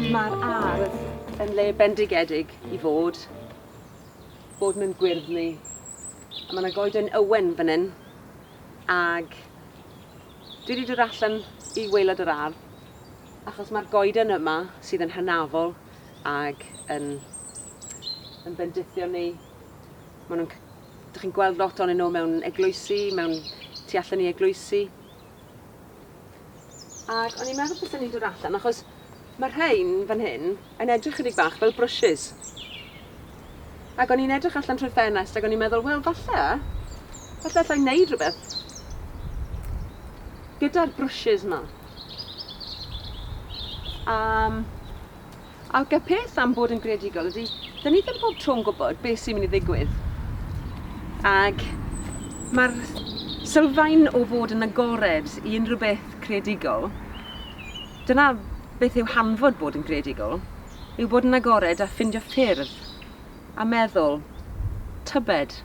Mae'r ardd yn le bendigedig i fod, bod mewn gwyrddni. A mae yna goeden ywen fan hyn, ag dwi wedi dod allan i waelod yr ardd, achos mae'r goeden yma sydd yn hynafol ag yn, yn bendithio ni. Maen nhw'n Dych chi'n gweld lot onyn nhw mewn eglwysi, mewn tu allan i eglwysi. Ac o'n i'n meddwl bysen ni'n dod allan, achos mae rhain fan hyn yn edrych chydig bach fel brwsys. Ac o'n i'n edrych allan trwy'r ffenest ac o'n i'n meddwl, wel falle, falle allai wneud rhywbeth gyda'r brwsys yma. Um, Ac y peth am bod yn greadigol ydy, da ni ddim pob tro'n gwybod beth sy'n mynd i ddigwydd. Ac mae'r sylfaen o fod yn agored i unrhyw beth creadigol, dyna beth yw hanfod bod yn greadigol, yw bod yn agored a ffindio ffyrdd, a meddwl, tybed,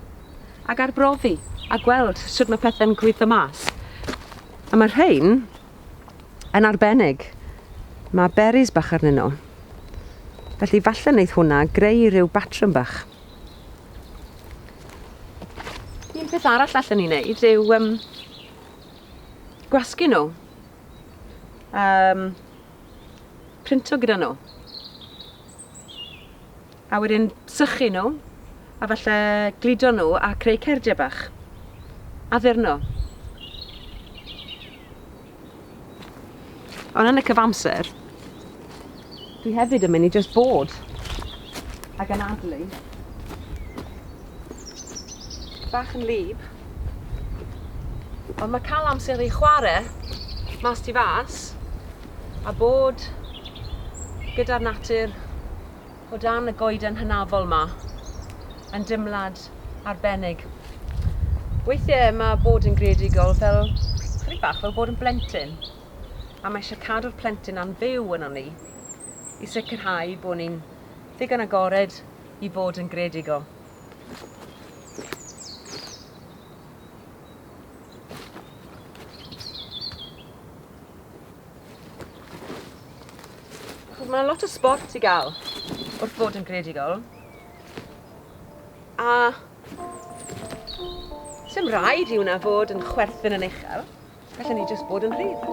ac arbrofi, a gweld sut mae pethau'n gweithio mas. A mae rhain, Yn arbennig, mae berries bach arnyn nhw. Felly falle wneith hwnna greu rhyw batrwm bach. Un peth arall allan ni wneud yw um, gwasgu nhw. Um, printo gyda nhw. A wedyn sychu nhw, a falle gludo nhw a creu cerdiau bach. Addurno. Ond yn y cyfamser, dwi hefyd yn mynd i just bod ac yn adlu bach yn lib. Ond mae cael amser i chwarae mas ti fas a bod gyda'r natur O dan y goeden hynafol 'ma. Mae'n dimlad arbennig. Weithie ma' bod yn greadigol fel, chydig bach fel bod yn blentyn. A mae eisiau cadw'r plentyn na'n fyw yno ni. I sicrhau bod ni'n ddigon agored i fod yn greadigol. Chos mae lot o sport i gael wrth fod yn greadigol. A sy'n rhaid i hwnna fod yn chwerthin yn uchel. Felly ni jyst bod yn rhydd.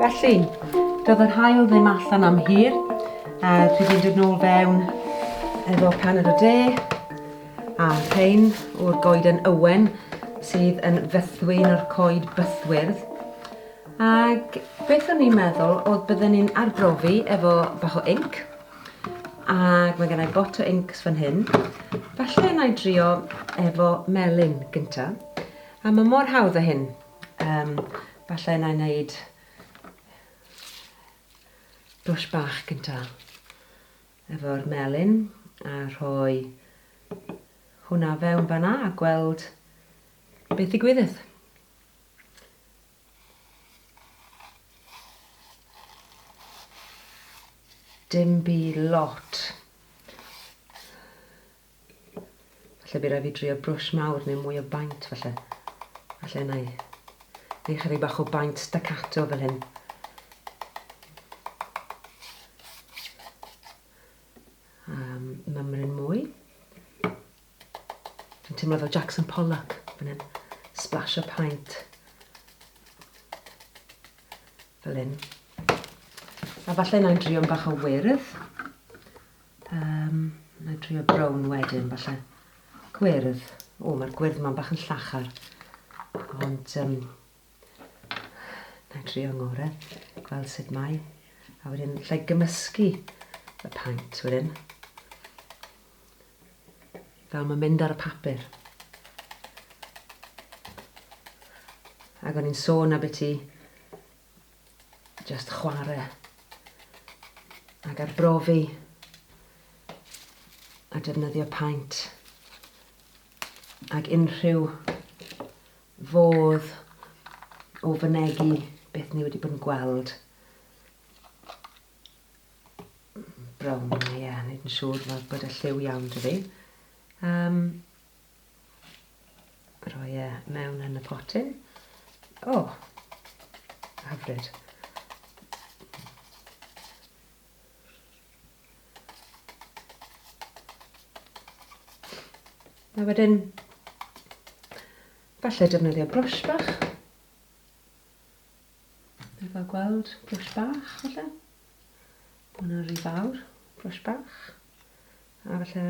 Felly, doedd yr haul ddim allan am hir, a dwi wedi dod nôl fewn efo paned o de, a rhain o'r goeden ywen sydd yn fethwy yn o'r coed bythwyrdd. Ac beth o'n i'n meddwl oedd bydden ni'n arbrofi efo bach o inc, ac mae gennau bot o inc fan hyn. Falle yna i drio efo melyn gyntaf, a mae mor hawdd o hyn. Yym, falle na i wneud brush bach gynta efo'r melyn a rhoi hwnna fewn fanna a gweld beth i gwyddith. dim byd lot. Falle by rai fi drio brush mawr neu mwy o baint falle. Falle na i. Neu chydig bach o baint staccato fel hyn. Um, mymryn mwy. Fi'n teimlo fel Jackson Pollock fan hyn. Splash o paint. Fel hyn. A falle na i'n drio'n bach o wyrdd. Yym, na i drio brown wedyn, falle. Gwyrdd. O, mae'r gwyrdd ma'n bach yn llachar. Ond, um, na i drio ngore, gweld sut mae. A wedyn, lle gymysgu y paint wedyn. Fel mae'n mynd ar y papur. Ac o'n i'n sôn a beth i Just chwarae ac arbrofi a defnyddio paent ac unrhyw fodd o fynegi beth ni wedi bod yn gweld. Brown, ie, yeah, nid yn siŵr bod y lliw iawn dy fi. Um, Rhoi e mewn yn y potyn. O! Oh, hyfryd. A wedyn, falle defnyddio brwsh bach. Efo gweld, brwsh bach, falle. Hwna rhy fawr, brwsh bach. A falle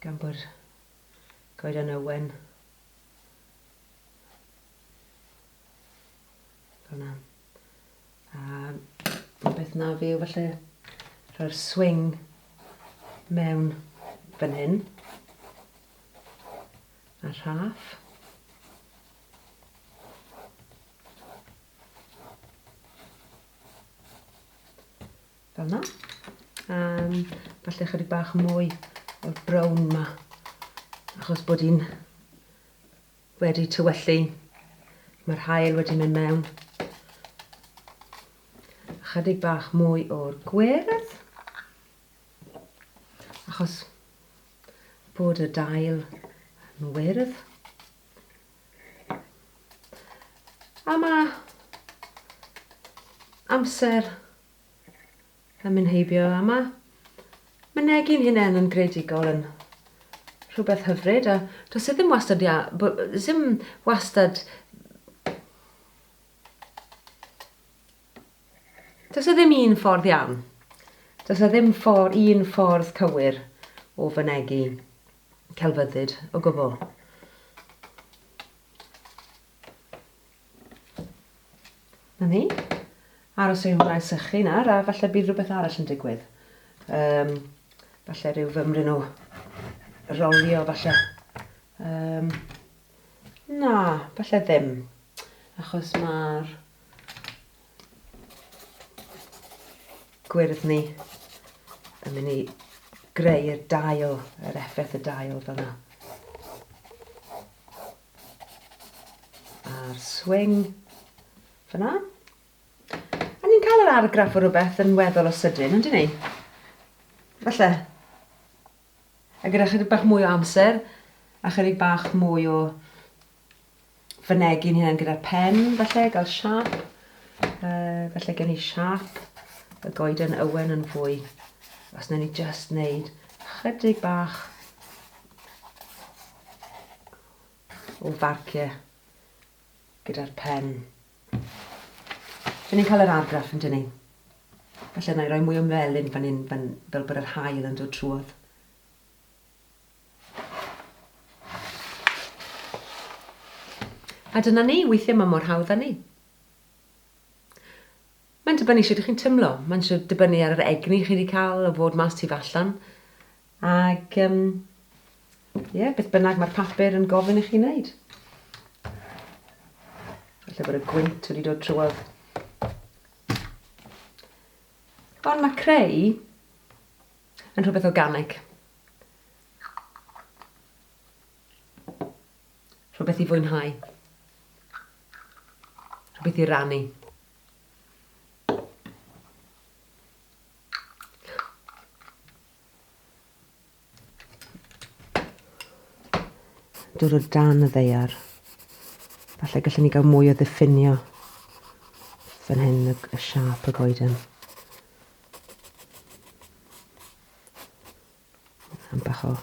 Gan bod Goeden Owen Fyna. A beth na fi yw falle rhoi'r swing mewn fan hyn. A rhaff. Fel yna. Um, falle chydig bach mwy o'r brown ma. Achos bod hi'n wedi tywellu. Mae'r hael wedi mynd mewn. Chydig bach mwy o'r gwyrdd. Achos bod y dail yn wyrdd. A mae amser Yn mynd heibio a ma mynegi'n hunen yn greadigol yn rhywbeth hyfryd a does e ddim wastad ia, ddim wastad Does e ddim un ffordd iawn. Does e ddim ffordd, un ffordd cywir o fynegi celfyddyd o gwbl. Na ni. Aros i hwn gael sychu nawr a falle bydd rhywbeth arall yn digwydd. Um, falle rhyw fymryn o rolio falle. Um, na, falle ddim. Achos mae'r gwyrdd ni yn mynd i greu'r dail, yr effaith y dail fel yna. A'r swing fyna. A ni'n cael yr argraff o rhywbeth yn weddol o sydyn, ond ni? Falle. A gyda chydig bach mwy o amser, a chydig bach mwy o fynegi'n hyn gyda'r pen, falle, gael siap. Uh, falle gen i siap y goeden ywen yn fwy. Os na ni just wneud chydig bach o farcio gyda'r pen. Dyn ni'n cael yr argraff yn dyn ni. Felly yna i roi mwy o melyn fan hyn fan, fel bod yr hael yn dod trwodd. A dyna ni, weithiau mae mor hawdd â ni. Mae'n dibynnu sut ydych chi'n tymlo. Mae'n dibynnu ar yr egni chi wedi cael o fod mas tu fallan. Ac yym ie, beth bynnag mae'r papur yn gofyn i chi wneud. Felly bod y gwynt wedi dod trwodd. Ond mae creu yn rhywbeth organig. Rhywbeth i fwynhau. Rhywbeth i rannu. Dod o dan y ddeiar. Falle gallwn ni gael mwy o ddiffinio fan hyn y, y siap y goeden. Am bach o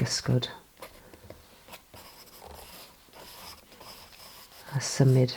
gysgod. A symud.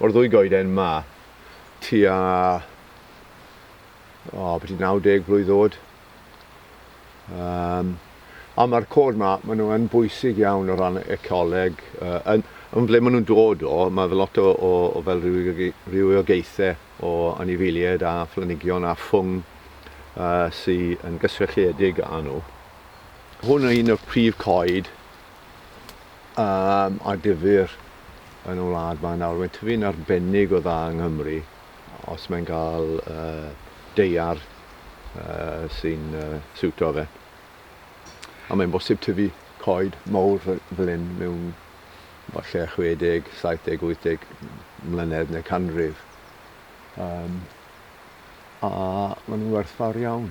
O'r ddwy goeden 'ma, tua, o, byti 90 blwydd oed. Um, a mae'r cod 'ma, maen nhw yn bwysig iawn o ran ecoleg. Uh, yn, yn ble maen nhw'n dod o, mae fel lot o, o, o fel rhywiogaethau o anifeiliaid a phlanhigion a ffwng uh, sy'n yn gysrelledig â nhw. Hwn yw un o'r prif coed um, a difyr yn y wlad mae nawr. Mae'n tyfu'n arbennig o dda yng Nghymru, os mae'n cael uh, deiar uh, sy'n uh, siwto fe. A mae'n bosib tyfu coed mawr fel hyn mewn falle 60, 70, 80 mlynedd neu canrif. Um, a maen nhw'n werthfawr iawn.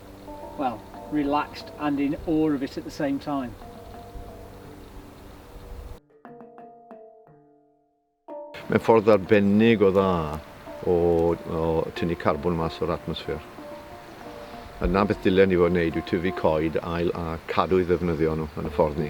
well, relaxed and in awe of it at the same time. Mae'n ffordd arbennig o dda o, o tynnu carbon mas o'r atmosffer. Yna beth dylen ni fod yn neud yw tyfu coed ail a cadw i ddefnyddio nhw yn y ffordd ni.